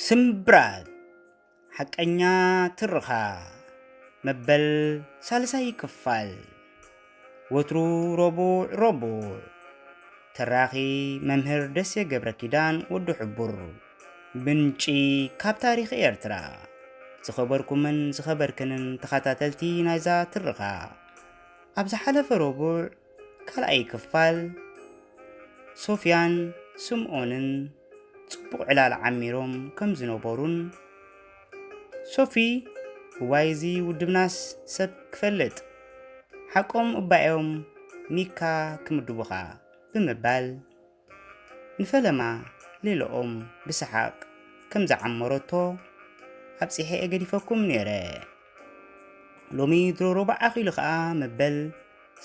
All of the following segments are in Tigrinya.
ስምብራት ሓቀኛ ትርኻ መበል ሳልሳይ ክፋል ወትሩ ረቡዕ ረቡዕ ተራኺ መምህር ደሴ ገብረ ኪዳን ወዲ ሕቡር ምንጪ ካብ ታሪኽ ኤርትራ። ዝኸበርኩምን ዝኸበርክንን ተኸታተልቲ ናይዛ ትርኻ፣ ኣብ ዝሓለፈ ረቡዕ ካልኣይ ክፋል ሶፍያን ስምኦንን ጽቡቕ ዕላል ዓሚሮም ከም ዝነበሩን ሶፊ እዋይ እዚ ውድብናስ ሰብ ክፈልጥ ሓቆም እባዮም ኒካ ክምድቡኻ ብምባል ንፈለማ ሌሎኦም ብሰሓቕ ከም ዝዓመረቶ ኣብጺሐ'የ ገዲፈኩም ነይረ። ሎሚ ድሮ ሮባዕ ኣኺሉ ከኣ መበል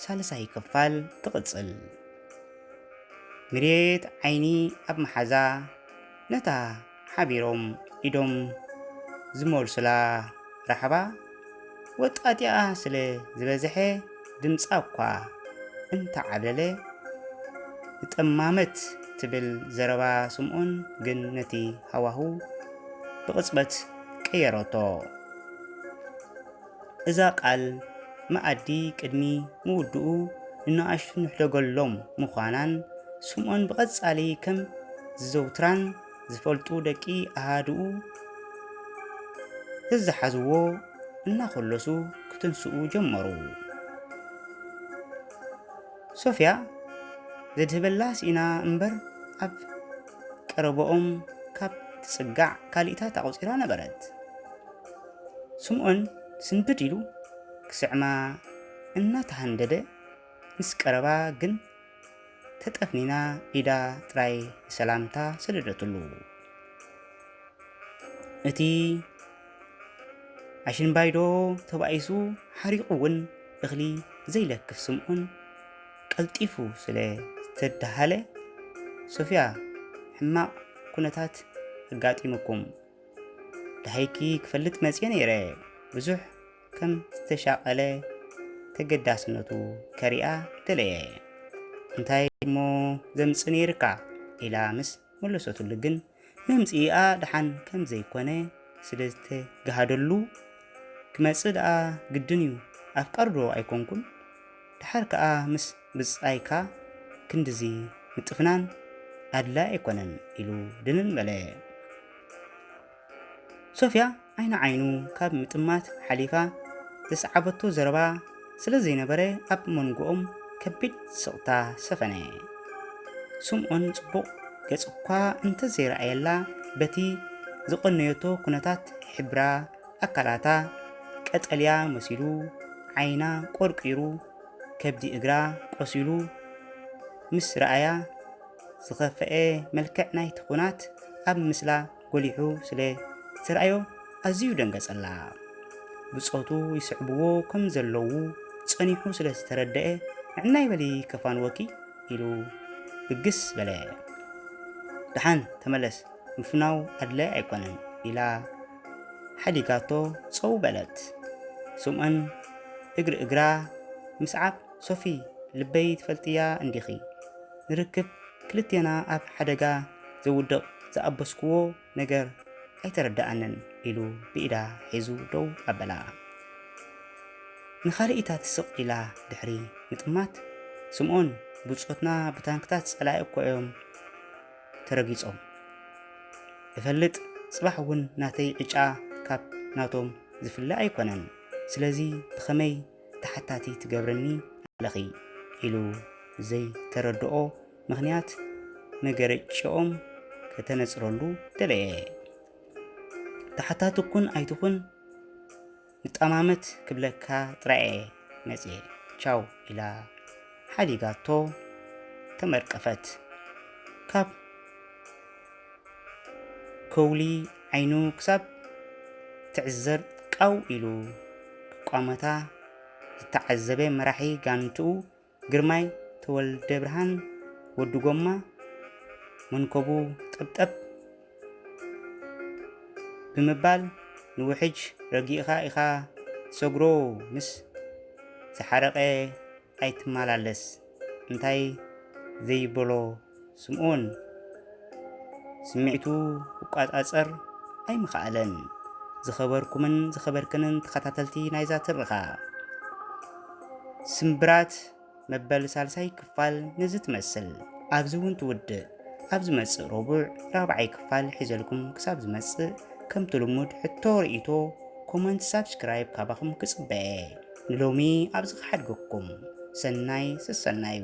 ሳልሳይ ክፋል ትቕጽል። ምሬት ዓይኒ ኣብ መሓዛ ነታ ሓቢሮም ኢዶም ዝመልሱላ ራሕባ ወጣጢኣ ስለ ዝበዘሐ ድምጻ'ኳ እንተዓብለለ ንጠማመት ትብል ዘረባ ስምኦን ግን ነቲ ሃዋሁ ብቕጽበት ቀየረቶ። እዛ ቃል መኣዲ ቅድሚ ምውድኡ ንነኣሽቱ ንሕደገሎም ምዃናን ስምኦን ብቐጻሊ ከም ዝዘውትራን ዝፈልጡ ደቂ ኣሃድኡ እዝሓዝዎ እናኾለሱ ክትንስኡ ጀመሩ። ሶፍያ ዘድህበላ ስኢና እምበር ኣብ ቀረበኦም ካብ ትጽጋዕ ካልኢታት ኣቑጺራ ነበረት። ስምዖን ስንብድ ኢሉ ክስዕማ እናተሃንደደ ምስ ቀረባ ግን ተጠፍኒና ኢዳ ጥራይ ንሰላምታ ሰደደትሉ። እቲ ኣሽንባይዶ ተባኢሱ ሓሪቑ እውን እኽሊ ዘይለክፍ ስምዖን ቀልጢፉ ስለ ዝተዳሃለ ሶፍያ ሕማቕ ኩነታት ኣጋጢሙኩም ደሃይኪ ክፈልጥ መፅየ ነይረ ብዙሕ ከም ዝተሻቐለ ተገዳስነቱ ከሪኣ ደለየ። እንታይ እሞ ዘምጽ ነይርካ ኢላ ምስ መለሰትሉ ግን መምጽኢኣ ደሓን ከም ዘይኮነ ስለ ዝተጋሃደሉ ክመጽእ ደኣ ግድን እዩ ኣፍቃርዶ ኣይኮንኩን ደሓር ከኣ ምስ ብጻይካ ክንድዚ ምጥፍናን ኣድላይ ኣይኮነን ኢሉ ድንን በለ። ሶፍያ ዓይኒ ዓይኑ ካብ ምጥማት ሓሊፋ ዘስዓበቶ ዘረባ ስለ ዘይነበረ ኣብ መንጎኦም ከቢድ ስቕታ ሰፈነ። ስምኦን ጽቡቕ ገጽ'ኳ እንተ ዘይረኣየላ በቲ ዝቐነዮቶ ኩነታት ሕብራ ኣካላታ ቀጠልያ መሲሉ፣ ዓይና ቆርቂሩ፣ ከብዲ እግራ ቆሲሉ ምስ ረኣያ ዝኸፍኤ መልክዕ ናይቲ ኩናት ኣብ ምስላ ጎሊሑ ስለ ዝተራእዮ ኣዝዩ ደንገጸላ። ብጾቱ ይስዕብዎ ከም ዘለዉ ጸኒሑ ስለ ዝተረደኤ ንዕናይ በሊ ከፋንወኪ ኢሉ ብግስ በለ። ደሓን ተመለስ ምፍናው ኣድላይ ኣይኮነን ኢላ ሓዲጋቶ ጸው በለት። ስምኦን እግሪ እግራ ምስዓብ ሶፊ ልበይ ትፈልጥያ እንዲኺ ንርክብ ክልቴና ኣብ ሓደጋ ዘውድቕ ዝኣበስኩዎ ነገር ኣይተረድኣንን ኢሉ ብኢዳ ሒዙ ደው ኣበላ። ንኻልኢታት ስቕ ኢላ ድሕሪ ምጥማት፣ ስምኦን፣ ብጾትና ብታንክታት ጸላኢ እኮ እዮም ተረጊጾም። እፈልጥ፣ ጽባሕ እውን ናተይ ዕጫ ካብ ናቶም ዝፍለ ኣይኮነን። ስለዚ ብኸመይ ተሓታቲ ትገብርኒ ኣለኺ? ኢሉ ዘይተረድኦ ምኽንያት መገረጭኦም ከተነጽረሉ ደለየ። ተሓታቲ ኩን ኣይትኹን ንጠማመት ክብለካ ጥራየ መጽየ ቻው ኢላ ሓዲጋቶ ተመርቀፈት። ካብ ከውሊ ዓይኑ ክሳብ ትዕዘር ቃው ኢሉ ክቋመታ ዝተዓዘበ መራሒ ጋንትኡ ግርማይ ተወልደብርሃን ወዲ ጎማ መንኮቡ ጠብጠብ ብምባል ንውሕጅ ረጊእኻ ኢኻ ትሰግሮ ምስ ዝሓረቐ ኣይትመላለስ እንታይ ዘይበሎ ስምኦን ስምዒቱ ክቋጻጸር ኣይምኸኣለን። ዝኸበርኩምን ዝኸበርክንን ተኸታተልቲ ናይዛ ትርኻ ስምብራት መበል ሳልሳይ ክፋል ነዚ ትመስል ኣብዚ እውን ትውድእ ኣብ ዝመጽእ ረቡዕ ራብዓይ ክፋል ሒዘልኩም ክሳብ ዝመጽእ ከምቲ ልሙድ ሕቶ ርእይቶ ኮመንት ሳብስክራይብ ካባኹም ክጽበየ ንሎሚ ኣብዚ ክሓድገኩም ሰናይ ሰሰናዩ።